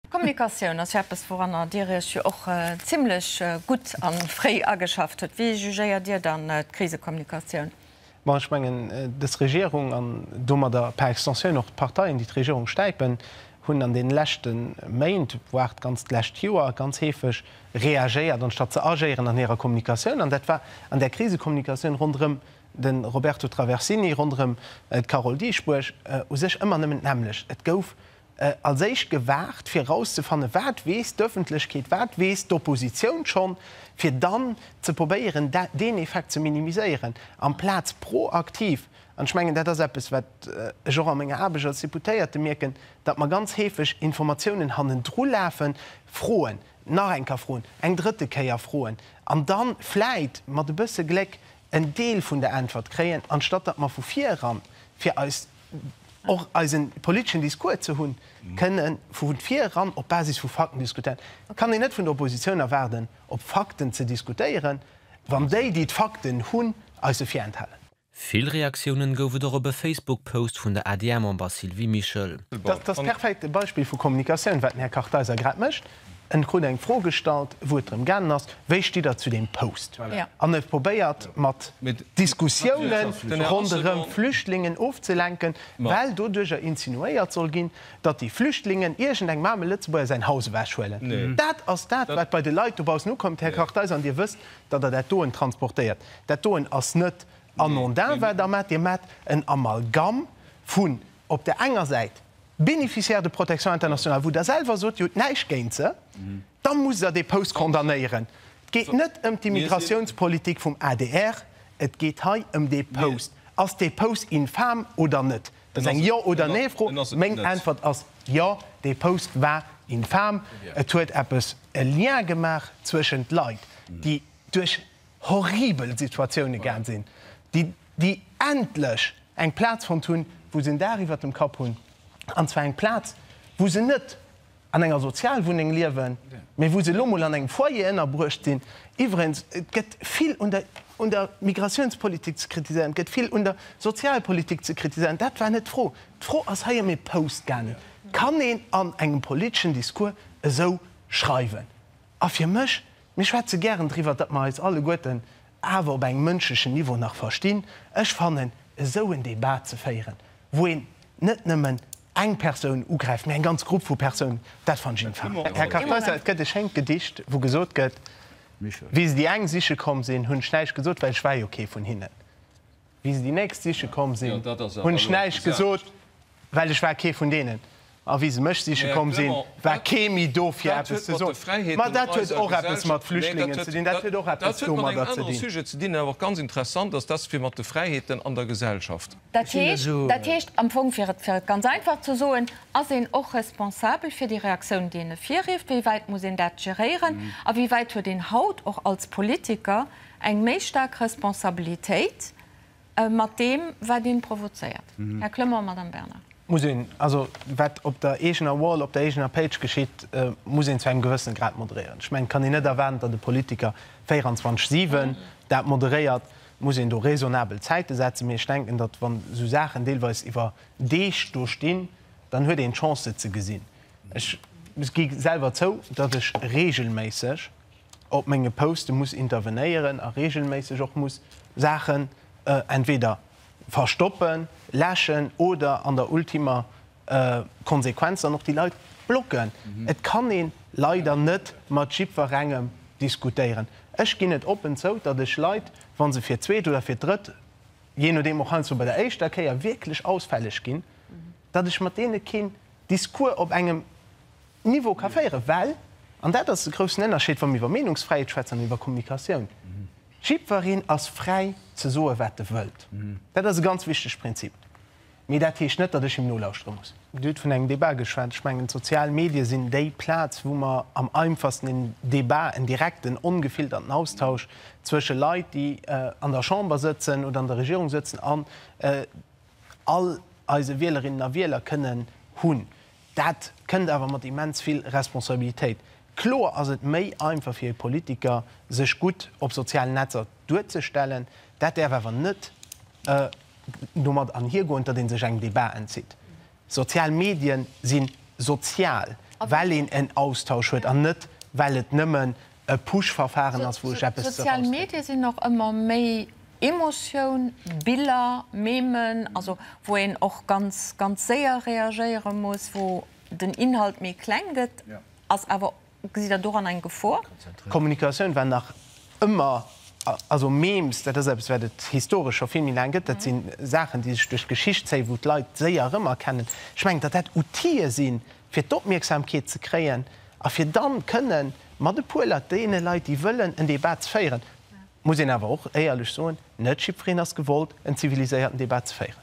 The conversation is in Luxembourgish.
D'Kommunikatioun ass jo eppes, wouranner Dir Iech jo och zimlech gutt a fréi ageschafft hutt. Wéi jugéiert Dir dann d'Krisekommunikatioun? Ma ech mengen, dës Regierung an domadder par extensioun och d'Parteien, déi d'Regierung stäipen, hunn an deene leschte Méint, voire d'ganzt d'lescht Joer, ganz heefeg reagéiert, anstatt ze agéieren an hirer Kommunikatioun. An dat war an där Krisekommunikatioun ronderëm de Roberto Traversini ronderëm d'Carole Dieschbourg u sech ëmmer nëmmen d'nämmlecht. Et gouf als éischt gewaart, fir erauszefannen, wat weess d'Ëffentlechkeet, wat weess d'Oppositioun schonn, fir dann ze probéieren, deen Effekt ze minimiséieren, amplaz proaktiv. An ech mengen, dat ass eppes, wat ech och a menger Aarbecht als Deputéierte mierken, datt mer ganz heefeg Informatiounen hannendrulafen, froen, nach eng Kéier froen, eng drëtte Kéier froen an da vläit mat e bësse Gléck en Deel vun der Äntwert kréien, anstatt datt mer vu vir eran, fir eis och eisen politeschen Discours ze hunn, kënne vu vir eran op Basis vu Fakten diskutéieren. Et kann een net vun der Oppositioun erwaarden, op Fakten ze diskutéieren, wann déi, déi d'Fakten hunn, eis se virenthalen. Vill Reaktiounen gouf et och op e Facebook-Post vun der ADR-Member Sylvie Mischel. Dat ass perfekt e Beispill vu Kommunikatioun, wat den Här Kartheiser grad mécht. En krut eng Fro gestallt wou et drëm gaangen ass, wéi stitt der zu deem Post? An huet probéiert mat Diskussiounen ronderëm Flüchtlingen ofzelenken, well doduercher insinuéiert soll ginn, datt déi Flüchtlingen iergend engem aarme Lëtzebuerger säin Haus ewech huelen. Dat ass dat wat bei de Leit dobaussen ukëmmt, Här Kartheiser, an Dir wësst, datt Der dat doen transportéiert. Dat doen ass net anondin wat Der maacht, Dir maacht en Amalgamm vun op der enger Säit, Bénéficiaires de protection internationale, wou Der selwer sot, Dir hutt näischt géint se, da musst Der dee Post condamnéieren. Et geet net ëm d'Immigrationspolitik vum adr, et geet hei ëm dee Post. Ass dee Post infam oder net? Dat ass eng Jo oder Nee-Fro. Meng Äntwert ass Jo, dee Post war infam. Et huet eppes e Lien gemaach zwëschent Leit, déi duerch horribel Situatioune gaang sinn, déi déi endlech eng Plaz fonnt hunn, wou se en Daach iwwert dem Kapp hunn, an zwar eng Plaz, wou se net an enger Sozialwunneng liewen, mee wou se elo mol an engem Foyer ënnerbruecht sinn. Iwwregens, et gëtt vill un der un der Migratiounspolitik ze kritiséieren, et gëtt vill un der Sozialpolitik ze kritiséieren, dat war net d'Fro. D'Fro ass hei ëm ee Post gaangen. Kann een an engem politeschen Discours esou schreiwen? A fir mech, mir schwätze gären driwwer, datt mer eis alleguerten awer op engem mënschlechen Niveau nach verstinn, ech fannen, esou en Débat ze féieren, wou een net nëmmen eng Persoun ugräift, mee eng ganz Grupp vu Persounen, dat fanne ech infam. Här Kartheiser, et gëtt e schéint Gedicht, wou gesot gëtt, Wéi se déi eng siche komm sinn, hunn ech näischt gesot, well ech war jo kee vun hinnen. Wéi se déi nächst siche komm sinn, hunn ech näischt gesot, well ech war kee vun deenen. A wéi se mech siche komm sinn, war kee méi do fir eppes ze soen. Ma dat huet och eppes mat Flüchtlingen ze dinn, dat huet och eppes domadder ze dinn. Dat heescht, dat heescht am Fong, fir et ganz einfach ze soen, Ass een och responsabel fir déi Reaktioun, déi en ervirrifft? Wéi wäit muss een dat geréieren? A wéi wäit huet een haut och als Politiker Eng méi staark Responsabilitéit mat deem, wat een provozéiert, Här Clement, Madame Bernard. Muss een, also wat op der eegener Wall, op der eegener Page geschitt, muss een zu engem gewëssene Grad moderéieren. Ech mengen, et kann een net erwaarden, datt e Politiker 24, 7 dat moderéiert. Et muss een do raisonnabel Zäite setzen. Mee ech denken, datt wann esou Saachen deelweis iwwer Deeg do stinn, dann huet een d'Chance se ze gesinn. Ech gi selwer zou, datt ech reegelméisseg, op menge Poste muss intervenéieren a reegelméisseg och muss Saachen entweder verstoppen, läschen oder an der ultimer Konsequenz dann och déi Leit blocken. Et kann ee leider net mat jiddwerengem diskutéieren. Ech ginn et oppen zou, datt ech Leit, wa se fir d'zweet oder fir d'drëtt, jee nodeem, och heiansdo bei der éischter Kéier wierklech ausfälleg ginn, datt ech mat deene keen Discours op engem Niveau ka féieren, well, an dat ass de groussen Ënnerscheed, wa mir iwwer Meenungsfräiheet schwätzen an iwwer Kommunikatioun, Jiddwereen ass fräi ze soen, wat e wëllt. Dat ass e ganz wichtege Prinzip. Mee dat heescht net, datt ech him nolauschtere muss. Dir hutt vun engem Debat geschwat. Ech mengen, d'sozial Medie sinn déi Plaz, wou mer am einfachsten en Debat, en direkten, ongefilterten Austausch zwësche Leit, déi an der Chamber sëtzen oder an der Regierung sëtzen, an, all eise Wielerinnen a Wieler kënnen hunn. Dat kënnt awer mat immens vill Responsabilitéit. Kloer ass et méi einfach fir e Politiker, sech gutt op sozialen Netzer duerzestellen. Dat däerf awer net domat anhiergoen, datt ee sech engem Debat entzitt. Sozial Medien si sozial, well een en Austausch huet an net well et nëmmen e Push-Verfahren ass, wou ech eppes eraus. Sozial Medie sinn och ëmmer méi Emotioun, Biller, Memen, also wou een och ganz, ganz séier reagéiere muss, wou den Inhalt méi kleng gëtt, ass awer, gesitt Der doran eng Gefor? Kommunikatioun war nach ëmmer, also Memes, dat ass eppes wat et historesch scho vill méi laang gëtt, dat si Saachen, déi sech duerch d'Geschicht zéien, wou d'Leit séier erëmerkennen. Ech mengen, datt dat Outile sinn, fir d'Opmierksamkeet ze kréien a fir dann kënne mat e puer Leit, deene Leit, déi wëllen en Debat ze féieren, muss een awer och éierlech soen, net jiddwereen ass gewollt, en ziviliséierten Debat ze féieren.